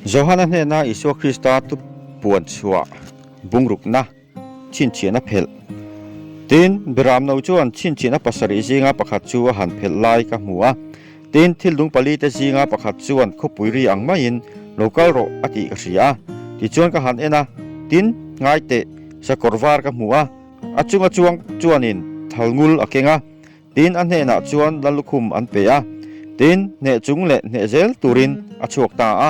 Johana hnena Isua Krista tupuan chhuah bungrukna chhinchhiahna a phelh. Tin, Biramno chuan chhinchhiahna pasarih zinga pakhat chu a han phelh lai ka hmu a. Tin, thil dung palite zinga pakhat chuan khawpui ri ang maiin lo kal rawh a tih ka hria. Tichuan ka han en a, tin, ngaiteh sakawr var ka hmu a, a chunga chuang chuanin thal ngul a keng a. Tin a hnenah chuan la lukhum an pe a, tin hneh chung leh hneh zel turin a chhuak ta a.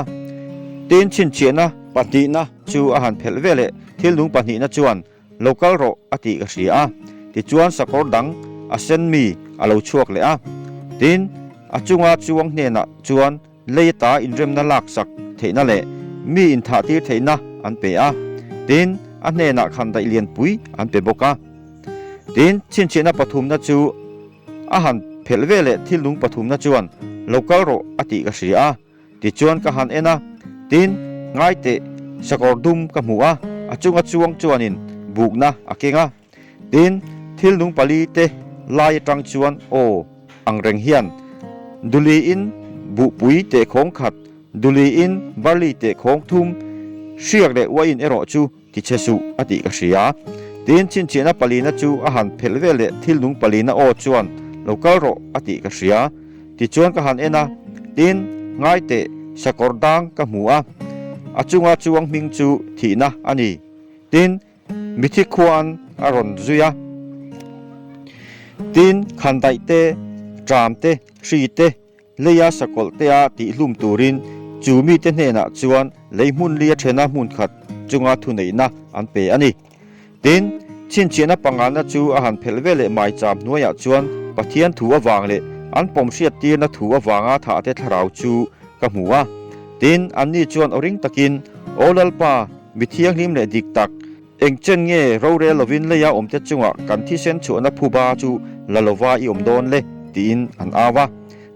Tin chhinchhiahna pahnihna chu a han phelh ve leh thilnung pahnihna chuan lo kal rawh a tih ka hria a. Tichuan sakawr dang a sen mi a lo chhuak leh a, tin a chunga chuang hnenah chuan lei ata inremna lak sak theihna leh mi inthahtir theihna an pe a, tin a hnenah khan daih lianpui an pe bawk a. Tin, chhinchhiahna pathumna chu a han phelh ve leh thilnung pathumna chuan lo kal rawh a tih ka hria a, tichuan ka han en a, tin ngaiteh sakawr dum ka hmu a, a chunga chuang chuanin bukna a keng a. Tin, thil nung pali te lai atang chuan aw ang reng hian Duli in buhpui teh khawng khat, Duli in barley teh khawng thum, hriak leh uai in erawh chu ti che suh a tih ka hria. Tin, chinchihna palina chu a han phelh vel leh thil nung palina aw chuan lo kal rawh a tih ka hria. Tichuan ka han en a, tin, ngai teh sakawr dang ka hmu a, a chunga chuang hming chu thihna a ni. Tin, Mithi khuan a rawn zui a. Tin, khandaih te, ṭam te, ṭhi te, lei a sakawlh te a tih hlum turin chu mite hnenah chuan lei hmunli a ṭhena hmun khat chunga thuneihna an pe a ni. Tin, chhinchhiahna pangnganna chu a han phelh veleh mai cham hnuaiah chuan Pathian thu avang leh an pawm hriat tirna thu avanga thah te thlarau chu ka hmu a. Tin, anni chuan aw ring takin, Aw Lalpa, Mi thianghlim leh dik tak, engchen nge rorel lovin leia awmte chungah kan thisen chhuahna phuba chu la lova i awm dawn le tiin an au a.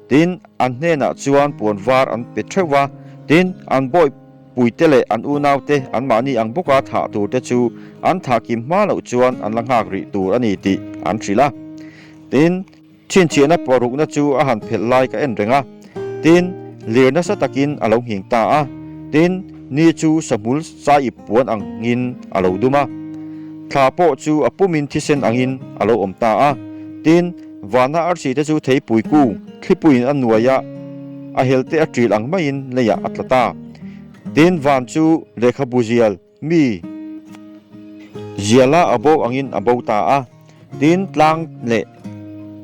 Tin, an hnenah chuan puan var an pe theuh a. Tin, an bawipuite leh an unaute anmahni ang bawka thah turte chu an thah kim hma loh chuan an la nghak rih tur a ni tih an hrilh a. Tin. Chhinchhiahna puah rukna chu a han phelh lai ka en reng a, tin, lir nasa takin a lo ngheng ta a, tin, ni chu sawhmul sa ip puan angin a lo dum a, thla pawh chu a pumin thisen angin a lo awm ta a, tin, vana arsi te chu thei puiku thlipuiin a nuai a, a helte a ṭil ang maiin leiah a tla ta, tin, van chu lehkhabu zial, Mi ziala a bo angin a bo ta a, tin tlang leh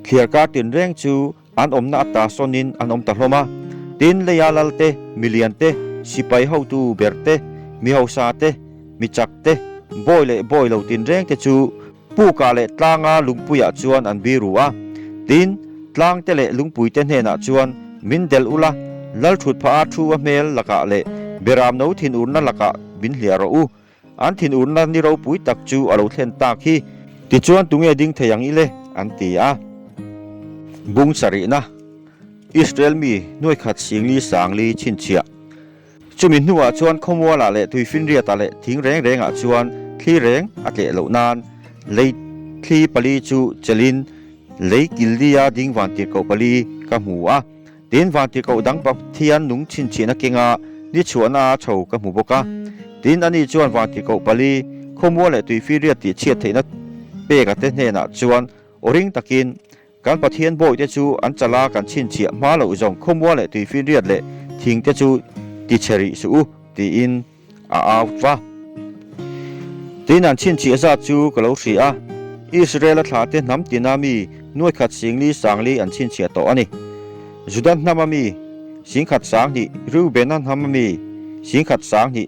thliar kar tinreng chu an awmna a ta sawnin an awm ta hlawm a. Tin leia lalte, miliante, sipai hotu berte, mi hausa te, mi chak te, bawi leh bawi lo tinreng te chu, Puka leh Tlanga lungpuiah chuan an biru a, tin, Tlangte leh Lungpuite hnenah chuan min delh ula, Lalthut pha a thu a hmel lakah leh Beram no thin urna lakah min hliah rawh u, an thin urna ni ropui tak chu a lo thlen tak hi, tichuan tunge ding thei ang i le? an ti a. Bung sarihna, Israel mi hnuaikhat Singli Sangli chhinchhiah Chumi hnuah chuan khawmualah leh tui finriatah leh thing reng rengah chuan thli reng a tleh loh nan lei thli pali chu chelhin lei kildia ding vantirhkoh pali ka hmu a. Tin, vantirhkoh dang pathian nung chhinchhihna kenga ni chhuahna a tho ka hmu bawk a. Tin, ani chuan vantirhkoh pali, khawmual leh tui finriat tih chhiat theihna pekate hnenah chuan aw ring takin, Kan Pathian bawihte chu an chala kan chhinchhiah hma loh zawng khawmual leh tui finriat leh thingte chu ti chhe rih suh u tiin a out va. Tiin an chhinchhiah zat chu ka lo hria a, Israela thlate hnam tina mi nuaikhat singli sangli an chhinchhiah tawh a ni. Juda hnama mi singkhat sang hnih, Reubena hnama mi singkhat sang hnih,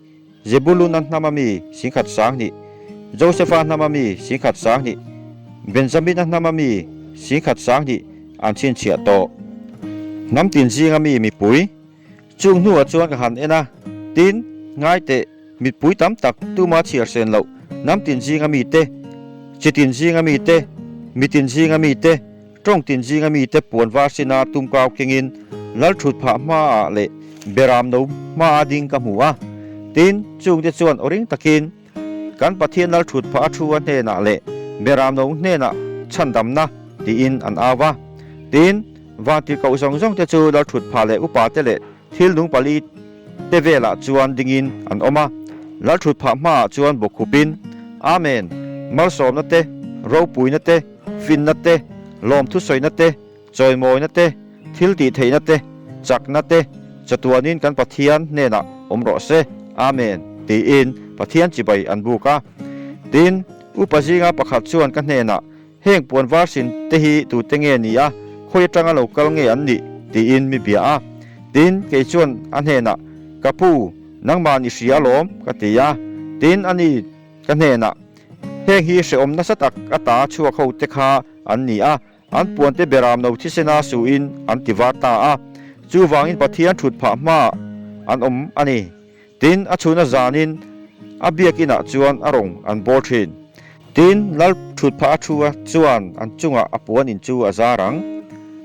Zebuluna hnama mi singkhat sang hnih, Josepha hnama mi singkhat sang hnih, Benjamina hnama mi singkhat sang hnih an chhinchhiah tawh. Hnam tin zinga mi mipui, Chung hnuah chuan ka han en a, tin, ngai teh, mipui tam tak, tuma chhiarsen loh, hnam tin zinga mite, chi tin zinga mite, mi tin zinga mite, Tawng tin zinga mite puan var sina tum kau kengin Lalthut phah hmaah leh Beram no hmaa ding ka hmu a. Tin, chungte chuan aw ring takin kan Pathian Lalthut phah a thua hnenah leh Beram no hnenah chhandamna tiin an au a. Tin, vang tirhkoh zawng zawngte chu Lalthut phah leh upate leh Thil dung pali te velah chuan dingin an awm a, lalṭhut phah hmaah chuan bawkhupin, Amen, malsawmna te, ropuina te, finna te, lawmthusawiina te, chawimawina te, thil tih theihna te, chakna te, chatuanin kan Pathian hnenah awm rawh se, Amen, tiin Pathian chibai an buk a. Tin, upa zinga pakhat chuan ka hnenah, Heng puan var sin te hi tute nge ni a, khawi atanga lo kal nge an nih? tiin mi bia a. Tin, kei chuan a hnenah, Ka pu, nangmah ni hria alawm, ka ti a. Tin, ani ka hnenah, Heng hi hrehawm nasa tak ata chhuak ho te kha an ni a, an puan te beram no thisena suhin an ti var ta a, chuvangin Pathian thut phah hmaah an awm a ni. Tin, a chhuna zanin a biakin ah chuan a rawn an bawr thin. Tin, lal thut phah a thu a, chuan an chungah a puan in chu a zar ang.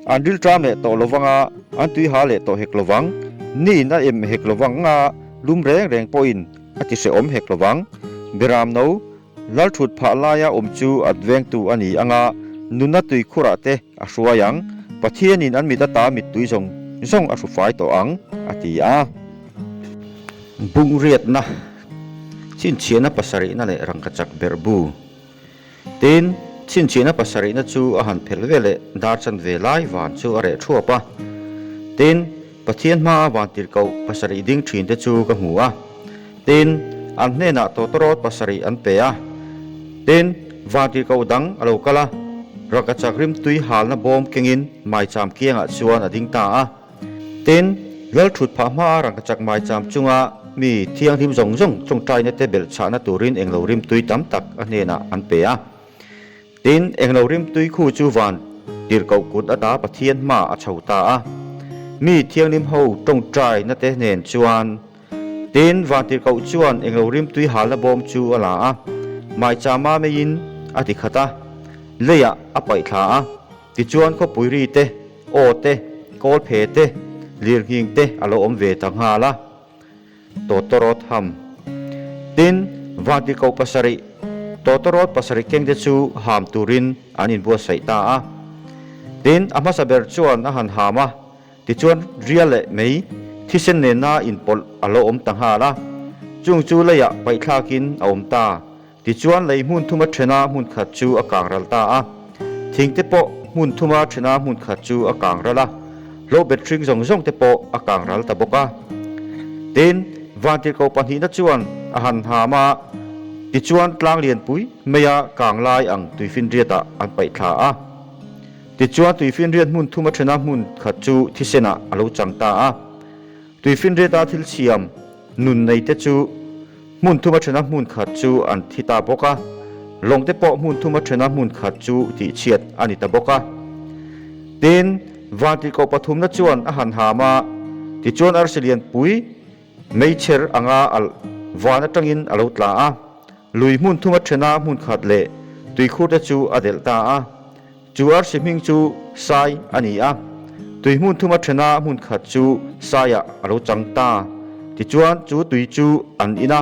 An ril ṭam leh tawh lo vang a, an tui ha leh tawh hek lo vang. Ni in a em hek lo vang a, lum reng reng pawhin a ti hrehawm hek lo vang. Biram no, Lalthut phah laia awm chu at vengtu a ni anga nuna tui khurah te a hruai ang. Pathianin an mit ata mittui zawng zawng a hrufai tawh ang, a ti a. Bungraitna, chhinchhiahna pasarihna leh rangkachak ber bu. Tin, chhinchhiahna pasarihna chu a han phelh veleh dar chanve lai van chu a reh thuap a. Tin. Pathian hmaa vântir koh pasarih ding ṭhinte chu ka hmu a, tin, an hnênah tawtawrawt pasarih an pe a, tin, vântir koh dang a lo kal a, rangkachak rimtui hâlna bâwm kengin maichâm kiangah chuan a ding ta a, tin, lalṭhut phah hmaa rangkachak maichâm chunga mi thianghlim zawng zawng tlawngṭainate belh chhahna tûrin englo rimtui tam tak a hnênah an pe a. Tin, englo rimtui khu chu van tirh koh kut ata Pathian hma a chho ta a. Mi thianghlim ho tawngtaina te nen chuan tin, van tirh koh chuan englo rimtui halna bawm chu a la a, maicha mameiin a ti khat a, leiah a paih thla a. Tichuan khawpui ri te, aw te, kawlphe te, lirnghing te a lo awm ve ta nghal a. Totoro tham. Tin, Vatico pasarih Totoro pasarih kengte chu ham turin an inbuatsaih ta a. Tin, a hmasa ber chuan a han ham a, tichuan ria leh mei thisen nena inpawlh a lo awm ta nghal a, chung chu leiah paihthlakin a awm ta. Tichuan lei hmun thuma thena hmun khat chu a kang ral ta a, thingte pawh hmun thuma thena hmun khat chu a kang ral a, hlawhbet hring zawng zawng te pawh a kang ral ta bawk a. Tin, vantîr ko pahnihna chuan a han hâm a, tichuan tlang lianpui maia kang lai ang tuifinriatah an paih thla a. Tichuan tuifinriat hmun thuma thena hmun khat chu thisenah a lo chang ta a. Tuifinriata thil siam nun neite chu hmun thuma thena hmun khat chu an thi ta bawk a, lawngte pawh hmun thuma thena hmun khat chu tihchhiat a ni ta bawk a. Tin, vantih koh pathumna chuan a han ham a, tichuan arsi lianpui mei chher anga alh van atangin a lo tla a, lui hmun thuma thena hmun khat leh tuikhurte chu a delh ta a. Chu arsi hming chu Sai a ni a, tui hmun thuma thena hmun khat chu Sai-a a lo chang ta. Tichuan, chu tui chu an in a,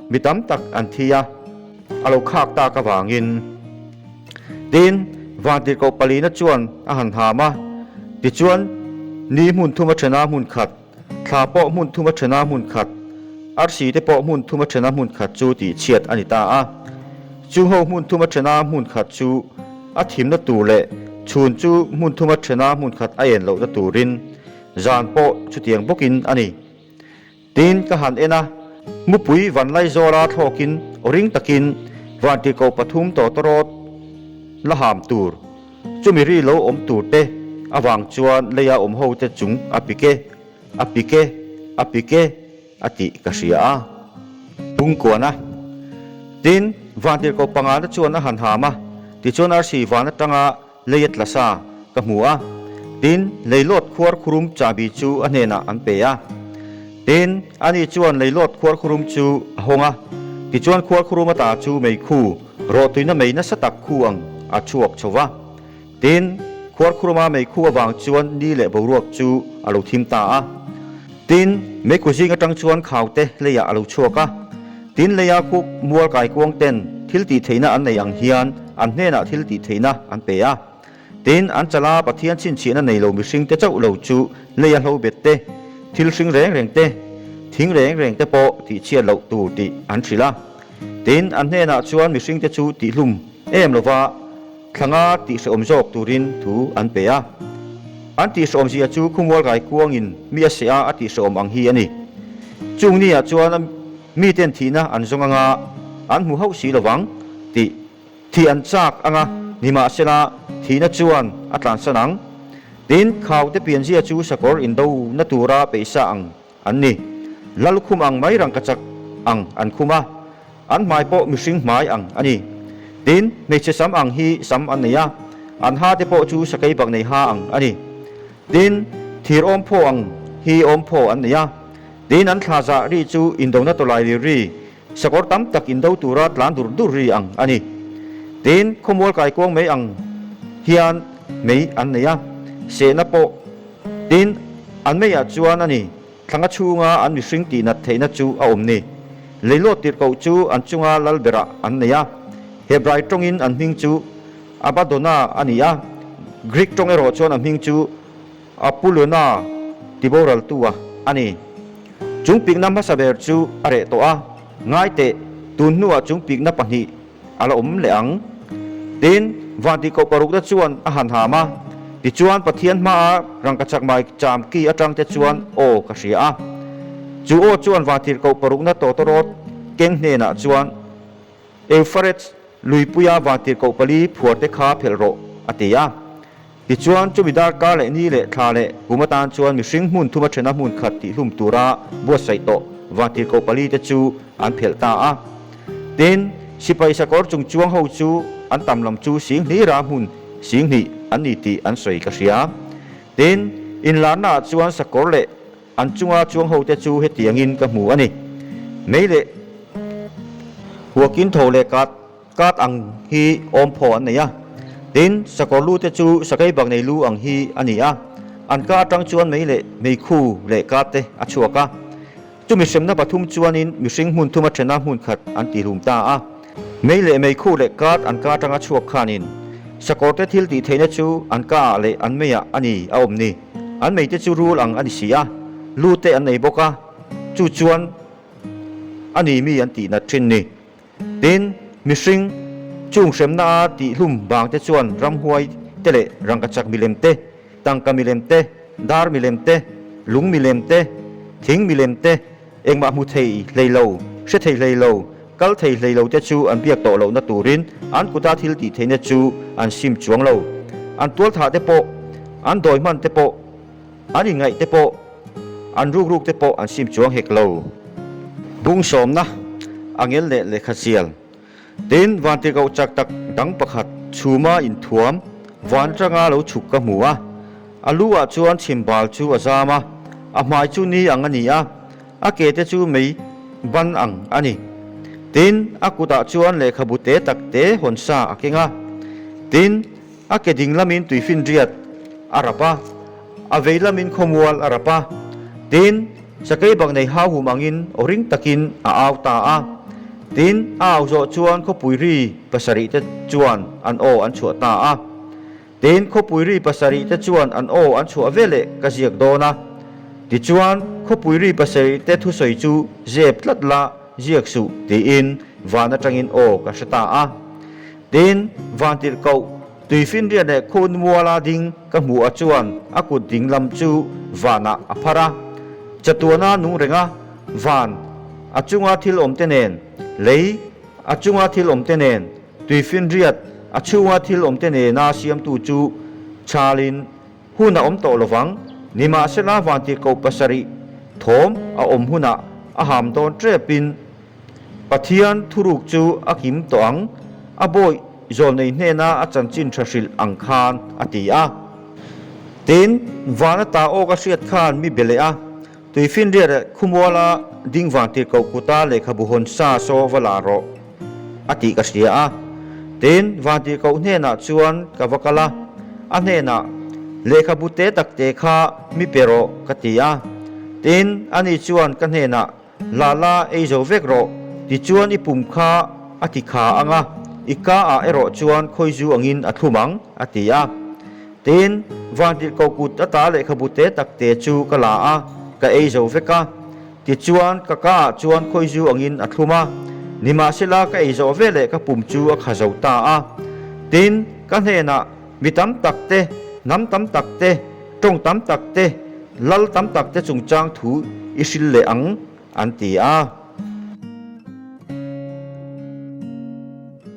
mi tam tak an thi a, a lo khak tak avangin. Tin, vântir koh palina chuan a han hâm a, tichuan ni hmun thuma thena hmun khat. Thla pawh hmun thuma thena hmun khat, arsi te pawh hmun thuma thena hmun khat chu tihchhiat a ni ta a. Chu ho hmun thuma thena hmun khat chu a thimna tur leh chhun chu hmun thuma thena hmun khat a en loh na turin zan pawh chutiang bawkin a ni tiin ka han en a. Mupui van lai zawla thlawkin ring takin vantirhkoh pathum tawtawrawt la ham tur. Chumi ri lo awm tur te avang chuan lei a awm ho te chung a pik e, a pik e, a pik e a tih ka hria a. Pungkuan a. Tin, Vântirhko pangana chuan a han hâm a, tichuan arsi vân aṭanga lei a tla sa ka hmu a. Tin, lei lawt khuar khurum chahbi chu a hnenah an pe a. Tin, ani chuan lei lawt khuar khurum chu a hawng a, tichuan khuar khurum ata chu meikhu, Rawhtuina mei nasa tak khu ang a chhuak chho va, tin Khuarkhuruma mei khu avang chuan ni leh boruak chu a lo thim ta a, tin meiku zing atang chuan khaute leiah a lo chhuak a, tin leia khuk mual kai kuangten thil tih theihna an nei ang hian an hnenah thil tih theihna an pe a. Tin, an chala Pathian chhinchhiahna nei lo mihring te chauh lo chu lei a hlo bet te, thil hring reng reng te, thing reng reng te pawh tihchhiat loh tur tih an hrilh a. Tin, an hnenah chuan mihring te chu tih hlum em lova thlanga tihrehawm zawk turin thu an pe a. An tihrehawm zia chu khumual rai kuangin mi a seh a a tihrehawm ang hi a ni. Chung ni ah chuan miten thihna an zawng anga an hmu hauh si lovang tih Thih an chak ang a, nimahsela, thihna chuan a tlansan ang. Tin, khaute pianzia chu sakawr indona tura peih sa ang an ni. La lukhum ang mai rangkachak ang an khum a, an hmai pawh mihring hmai ang a ni. Tin, hmeichhe sam ang hi sam an nei a, an hate pawh chu sakei bak nei ha ang a ni. Tin, thir awm phaw ang hi awm phaw an nei a. Tin, an thlahzah ri chu indona tawlai ri ri Sakawr tam tak indo tura tlan dur dur ri ang a ni. Tin, khawmual kai kuang mai ang hian mei an nei a, sehna pawh. Tin, an meiah chuan a ni thlanga chhunga an mihring tih nat theihna chu a awm ni. Leihlawt tirhkoh chu an chunga lal berah an nei a. Hebrai tawngin an hming chu Abadona a ni a, Greek tawng erawh chuan a hming chu. A pu lun a, ti boraltu a a ni. Chungpikna hmasa ber chu a reh tawh a, ngaiteh tun hnuah chungpikna pahnih a la awm leh ang. Tin, Vanti Koh parukna chuan a han ham a, tichuan Pathian hmaa Rangkachakmai cham ki atangte chuan aw ka hria a. Chu aw chuan Vanthir Koh parukna Tawtarawt keng hnenah chuan. Eupharates luipuia vangtir koh pali phuar te kha phelh rawh, a ti a. Tichuan, chumi darkar leh ni leh thla leh kum atan chuan mihring hmun thuma thena hmun khat tih hlum tura buatsaih tawh vangtir koh pali te chu an phelh ta a. Tin, sipai sakawr chung chuang ho chu an tam lam chu sing hlira hmun sing hnih an ni tih an sawi ka hria. Tin, inlarnaah chuan sakawr leh An chunga chuang hote chu hetiangin ka hmu a ni, Mei leh huakin tho leh kat, kat ang hi awm phaw an nei a, tin sakawr lu te chu sakei bak nei lu ang hi a ni a, an ka atang chuan mei leh mei khu leh kat te a chhuak a, chumi hremna pathum chuanin mihring hmun thuma thena hmun khat an tihlum ta a, mei leh mei khu leh kat an ka atanga chhuak khanin sakawrte thil tih theihna chu an ka ah leh an mei ah a ni a awm ni. An meite chu rul ang a ni si a, lu te an nei bawk a, chu chuan a ni mi an tih nat thin ni. Tin, mihring chung hremna a tihhlum vang te chuan ramhuai te leh rangkachak milem te, tangka milem te, dar milem te, lung milem te, thing milem te, Engmah hmu thei hlei lo, hre thei hlei lo, kal thei hlei lo te chu an biak tawh lohna turin an kuta thil tih theihna chu an sim chuang lo. An tual thah te pawh, an dawi hman te pawh, an inngaih te pawh, an ruk ruk te pawh an sim chuang hek lo. Bung sawmna, a ngel leh lehkhachial. Tin, vante ko chak tak dang pakhat chhuma inthuam van tanga lo chhuk ka hmu a, a lu ah chuan chhim bal chu a zam a, a hmai chu ni ang a ni a, a ke te chu mei ban ang a ni. Tin, a kut ah chuan lehkhabu te tak te hawn sa a keng a. Tin. A ke ding lamin tui finriat a rap a, a vei lamin khawmual a rap a. Tin, Sakei bang nei hauhum angin aw ring takin a au ta a. Tin, a au zawh chuan khawpui ri pasarih te chuan an aw an chhuah ta a. Tin, khawpui ri pasarih te chuan an aw an chhuah ve leh ka ziak dawn a. Tichuan, khawpui ri pasarih te thusawi chu zep tlat la, ziak suh, tiin van atangin aw ka hre ta a. Tin, van tirh koh tui finriat leh khun mual a ding ka hmuh a chuan a kut ding lam chu vanah a phar a. Chatuana nung reng a, van a chunga thil awmte nen, lei a chunga thil awmte nen, tui finriat a chhunga thil awmte nena siamtu chu Charlie-in Hun a awm tawh lovang, nimahsela vantih koh pasarih thawm a awm hunah a ham dawn ṭepin Pathian thuruk chu a kim tawh ang, a bawih zawh nei hnena a chanchin ṭha hrilh ang khan a ti a. Tin, vana ta awka hriat khan mi be leh a, Tuifi'n riat leh khumuala ding vang tir koh kuta lehkhabu hawn sa saw va la rawh a tih ka hria a. Tin, vang tir koh hnenah chuan ka va kal a, a hnenah, Lehkhabu te tak te kha mi pe rawh ka ti a. Tin, ani chuan ka hnenah, Lala, ei zo vek rawh, tichuan i pum kha a ti kha ang a, i ka ah erawh chuan khawizu angin a thlum ang a ti a. Tin, vangtir ko kut ata lehkhabu te tak te chu ka la a, ka ei zo vek a. Tichuan, ka ka ah chuan khawi zu angin a thlum a. Nimahsela, ka ei zawh ve leh ka pum chu a kha zo ta a. Tin, ka hnenah mi tam tak te, hnam tam tak te, tawng tam tak te, lal tam tak te chung chang thu i hril leh ang, an ti a.